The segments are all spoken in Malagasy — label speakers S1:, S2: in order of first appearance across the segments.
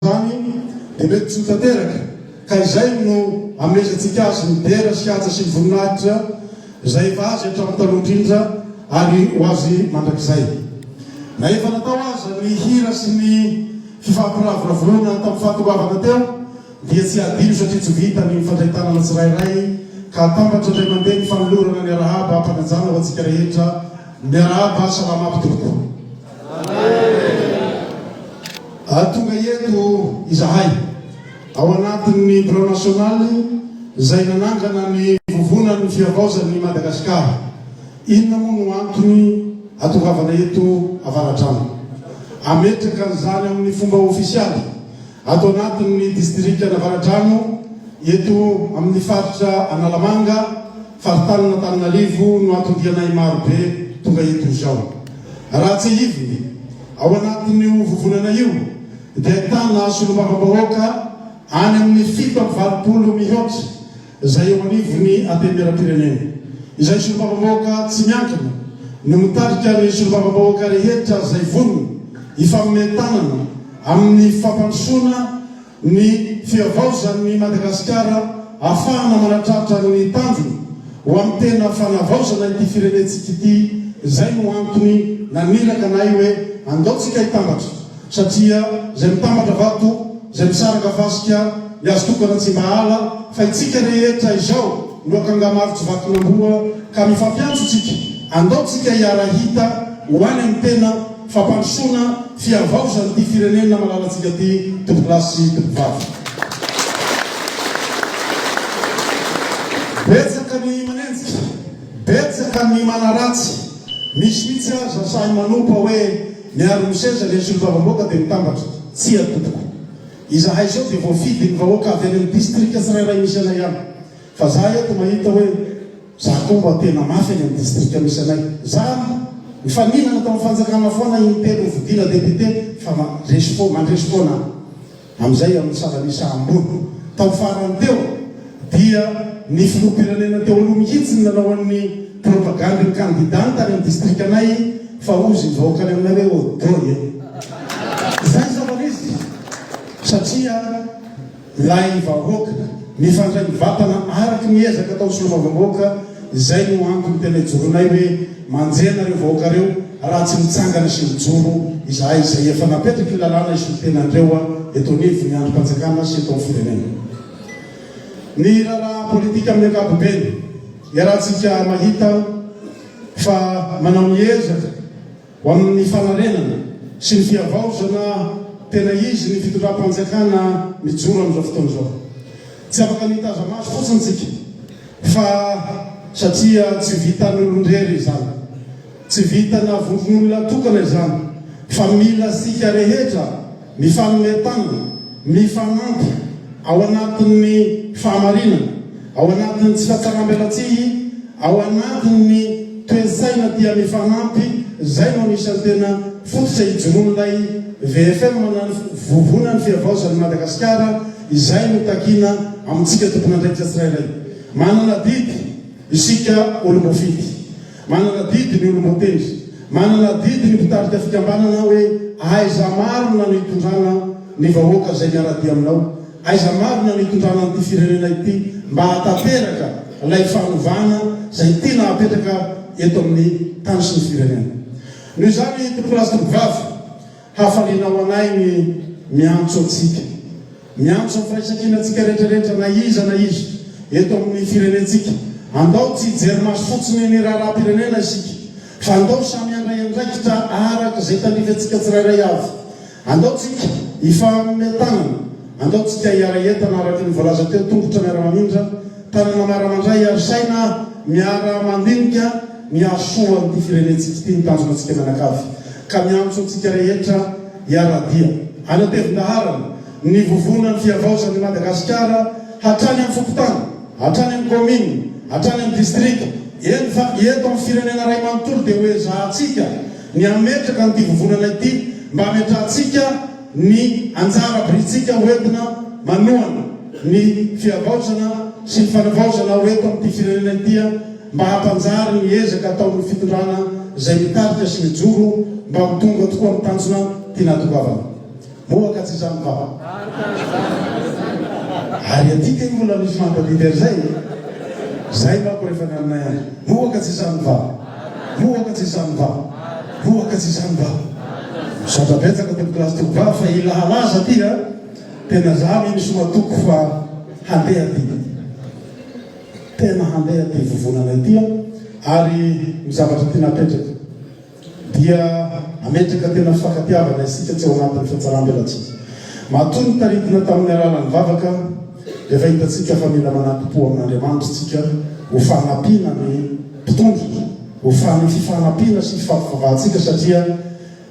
S1: Tany dia mety tsy ho tanteraka, ka izay no amezantsika azy ny dera sy haja sy ny voninahitra izay efa azy hatramin'ny taloha indrindra ary ho azy mandrakizay. Na efa natao aza ny hira sy ny fifampiravoravoana tamin'ny fahatongavana teo, dia tsy hadino satria tsy vita ny mifandray tanana tsirairay, ka atambatra indray mandeha ny fanolorana ny arahaba am-panajana ho antsika rehetra, Miarahaba, Salama mpitompoko. Ary tonga eto izahay, ao anatin'ny Plan National izay nanangana ny Vovonan'ny Fihavaozan'i Madagasikara. Inona moa no antony hatongavana eto Avaradrano? Hametraka an'izany amin'ny fomba ofisialy ato anatin'ny Distrikan'Avaradrano, eto amin'ny Faritra Analamanga, Faritanin'Antananarivo no atondianay marobe tonga eto izao. Raha tsihiviny, ao anatin'io vovonana io dia ahitana solombavambahoaka any amin'ny fito amby valopolo mihaotra izay eo anivon'ny Antenimierampirenena. Izay solombavambahoaka tsy miankina no mitarika ny solombavambahoaka rehetra izay vonona hifanomey tanana amin'ny fampandrosoana ny fihavaozan'ny Madagasikara ahafahana manatratra ny tanjony ho amin'ny tena fanavaozana ity firenentsika ity, izay no antony naniraka anay hoe andao tsika hitambatra satria izay mitambatra vato, izay misaraka fasika, ny azo tokana tsy mba ala fa itsika rehetra izao no akanga-maro tsy vakin'amboa ka mifampiantso tsika andao tsika hiara-hita ho any amin'ny tena fampandrosoana fihavaozan' ity firenena malalantsika ity tovolahy sy tovovavy. Betsaka ny manenjika, betsaka ny manaratsy, misy mihitsy aza sahy manompa hoe miaro ny seza ilay solombavamboaka dia mitambatra. Tsia tompoko. Izahay izao dia voafidin' ny vahoaka avy any amin' ny distrika tsirairay misy anay ihany. Fa za eto mahita hoe. Za koa mba tena mafy any am distrika misy anay zany mifaninana tao am fanjakana foana iny telo novidiana député fa mandresy fo mandresy foana am zay am salanisa ambony tao farany teo dia ny filoha pirenena teo aloha mihitsy ny nanao an ny propagandy ny kandida ny tany am distrika anay fa ozy ny vahoaka any aminay hoe odoy e zay zava misy satria lahy ny vahoaka, mifandray mivatana araky ny ezaka atao solombavambahoaka, izay no antony tena ijoroanay hoe manjehy anareo vahoaka reo raha tsy mitsangana sy mijoro izahay izay efa napetraky ny lalàna hisolotena anreo eto anivon ny andrim-panjakana sy eto amin'ny firenena. Ny raharaha politika amin'ny ankapobeny, iarahantsika mahita fa manao ny ezaka, Ho amin'ny fanarenana sy ny fihavaozana tena izy ny fitondram-panjakana mijoro amin'izao fotoana izao. Tsy afaka nitaza-maso fotsiny isika fa satria tsy vitan'ny olon-drery izany, tsy vitana vondron'olona tokana izany fa mila isika rehetra mifanome tanana, mifanampy ao anatin'ny fahamarinana, ao anatin'ny tsy fahatsaram-belatsihy, ao anatin'ny toe-tsaina tia mifanampy, izay no anisan'ny tena fototra ijoroan'ilay VFM na ny Vovonan'ny Fihavaozan'i Madagasikara izay no takiana amintsika tompon'andraikitra tsirairay. Manana adidy isika olom-boafidy. Manana adidy ny olom-boatendry. Manana adidy ny mpitarika fikambanana hoe aiza marina no hitondrana ny vahoaka izay miara-dia aminao? Aiza marina no hitondrana an'ity firenena ity mba hahatanteraka ilay fanovana izay tiana hapetraka eto amin'ny tany sy ny firenena? Noho izany, Tompon'andrasitro mpivavy, Hafaliana ho anay ny miantso antsika, miantso amin'ny firaisankina antsika rehetra rehetra na iza na iza eto amin'ny firenentsika. Andao tsy hijery maso fotsiny ny raharaham-pirenena isika, fa andao samy handray andraikitra araka izay tandrifantsika tsirairay avy. Andao tsika hifaha-mitanana, andao tsika hiara-hientana araka ny voalaza teo, tongotra miara-mamindra, Tany Manara mandray aro saina miara mandinika ny hahasoa an'ity firenentsika ity ny tanjona antsika mianakavy ka miantso antsika rehetra hiara-dia hanatevin-daharana ny vovonan'ny fihavaozan'i Madagasikara hatrany amin'ny fokontany, hatrany amin'ny kaominina, hatrany amin'ny distrika, eny fa eto amin'ny firenena iray manontolo dia hoezahantsika ny hametraka an'ity vovonana ity mba hametrahantsika ny anjara birintsika ho entina manohana ny fihavaozana sy ny fanavaozana ho eto amin'ity firenena ity mba hampanjary ny ezaka ataon'ny fitondrana izay mitarika sy mijoro mba ho tonga tokoa amin'ny tanjona tiana hatongavana. Moa ka tsy izany va? Ary aty kay mbola misy mampadidy an'izay e! Izay manko rehefa ny aminay any. Moa ka tsy izany va? Moa ka tsy izany va? Koa ka tsy izany va? Misaotra betsaka tompo classe teo vavy fa i lahalaza ty a tena za anie misy matoky fa handeha ty tena handeha ty vovonana ity a ary ny zavatra ty napetraka dia nametraka tena fifakatiavana isika tsy ao anatin'ny fiatsarambelatsihy matoa nitaridina tamin'ny alalan'ny vavaka Efa hitantsika fa mila manaki-po amin'Andriamanitra isika ho fanampiana ny mpitondra, ho fan'ny fifanampiana sy fifampivavahantsika satria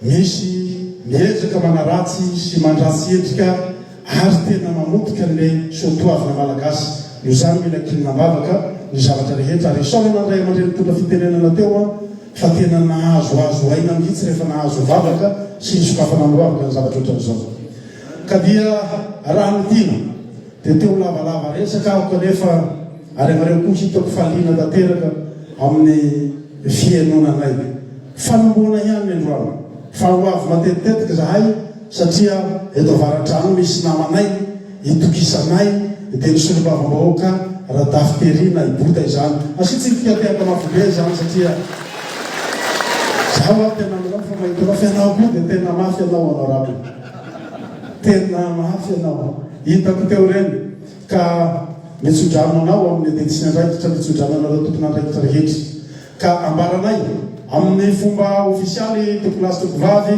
S1: misy miezaka manaratsy sy mandratsy endrika ary tena mamotika an'ilay soatoavina malagasy. Noho izany mila kinina am-bavaka ny zavatra rehetra ary isaorana ny ray aman-dreny nitondra fitenenana teo an fa tena nahazo azo aina mihitsy rehefa nahazo vavaka sy nisokafana miroavaka ny zavatra ohatran'izao. Ka dia raha ny tiana dia te ho lavalava resaka aho kanefa ary ianareo koa hitako fa liana tanteraka amin'ny fihainonanay. Fanombohana ihany ny androany fa ho avy matetitetika izahay satria eto Avaradrano misy namanay itokisanay dia ny solombavambahoaka Radafinterina i Bota izany. Asiantsika fihatehaka mafy be izany satria izaho ary tena manampy fa mahita anao fa ianao koa dia tena mafy ianao honorable. Tena mafy ianao an! Hitako teo ireny ka nitsodrano anao amin'ny ady tsy miandraikitra nitsodrano anareo tompon'andraikitra rehetra ka ambaranay amin'ny fomba ofisialy tompon'azy tompovavy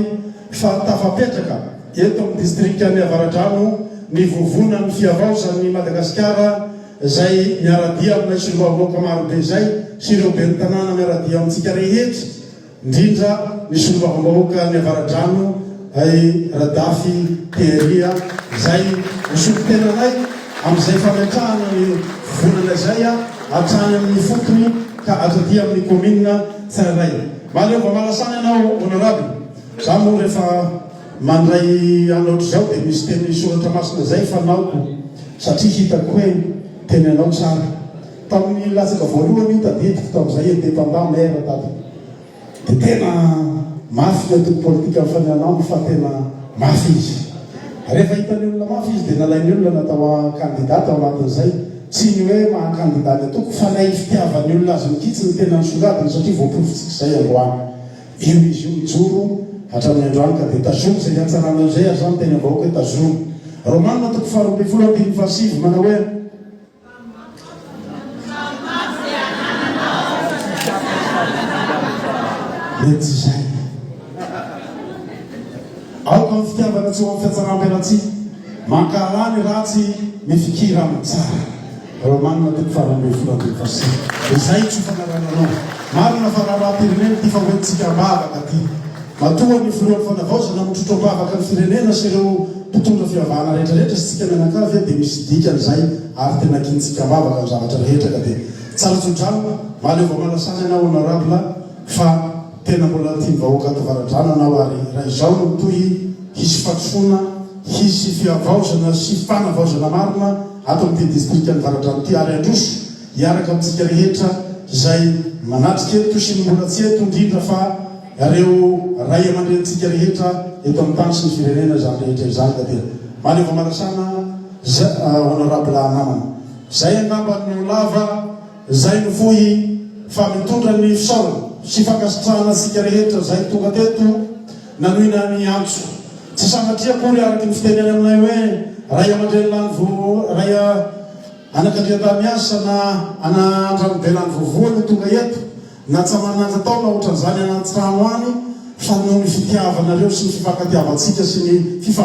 S1: fa tafapetraka eto amin'ny distrikan'i Avaradrano ny vovonan'ny fihavaozan'i Madagasikara izay miaradia aminay solombavambahoaka marobe izay sy ireo ben'ny tanàna miaradia amintsika rehetra ndrindra ny solombavambahoaka ny avaradrano ay radafy thierry a zay nisolo tena anay amzay fametrahana ny volana zay a atrany aminy fotony ka ato aty aminy commune tsirairay maleova malasany anao honorable za moa refa mandray any otrizao de misy teny soratra masina zay fanaoko satria hitako hoe teny anao tsara Tamin'ny latsaka voalohany io tadidiko tamin'izay independant maire tato dia tena mafy ny antoko politika mifanena aminy fa tena mafy izy. Rehefa hitan'ny olona mafy izy dia nalain'ny olona natao candidat tao anatin'izay. Tsy ny hoe maha candidat ny antoko fa ilay fitiavan'ny olona azy mikitsy no tena nisongadina satria voaporofon-tsika izay androany. Io izy io mijoro hatramin'ny androany ka dia tazomy izay hiantsaranao izay ary izaho miteny am-bahoaka hoe tazomy. Romana toko faharoa ambin'ny folo andininy fahasivy manao hoe. Dia tsy izay e! Aoka amin'ny fitiavana tsy ho amin'ny fihatsaram-pialatsiny, mankahalà ny ratsy, mifikira amin'ny tsara. Romana toko faha roa ambin'ny folo andininy faha sivy. Izay tsy ho fanarahanareo. Marina fa raharaha-pirenena ity fa hoentintsika am-bavaka ity. Matoa ny Filohan'ny Fanavaozana mitrotro am-bavaka ny firenena sy ireo mpitondra fivavahana rehetra rehetra istika mianakavy dia misy dikany izay ary tena kintsika am-bavaka ny zavatra rehetra ka dia tsara tsodrano Maleova Malasany anao Honorable fa tena mbola tian'ny vahoaka ato Avaradrano anao ary raha izao no mitohy hisy fadisoana hisy fihavaozana sy fanavaozana marina ato amin'ity Distrikan'i Varadrano ity ary handroso hiaraka amintsika rehetra izay manatrika eto sy ny mbola tsy eto indrindra fa Ianareo Ray aman-drenintsika rehetra eto amin'ny tany sy ny firenena izany rehetra izany ka dia mahaleo famarasana za honorable namana. Izay angamba no lava, izay no fohy fa mitondra ny fisaorana sy fankasitrahana antsika rehetra izay tonga teto nanoina ny antso. Tsy sanatria akory araka ny fiteny any aminay hoe Ray aman-dreny lany vovo, Ray anakandriantany miasa na anandranobe lany vovo no tonga eto. Natsaran'ny andrin-taona hoatran'izany any an-trano any fa noho ny fitiavanareo sy ny fifankatiavantsika sy ny fifandraisantsika.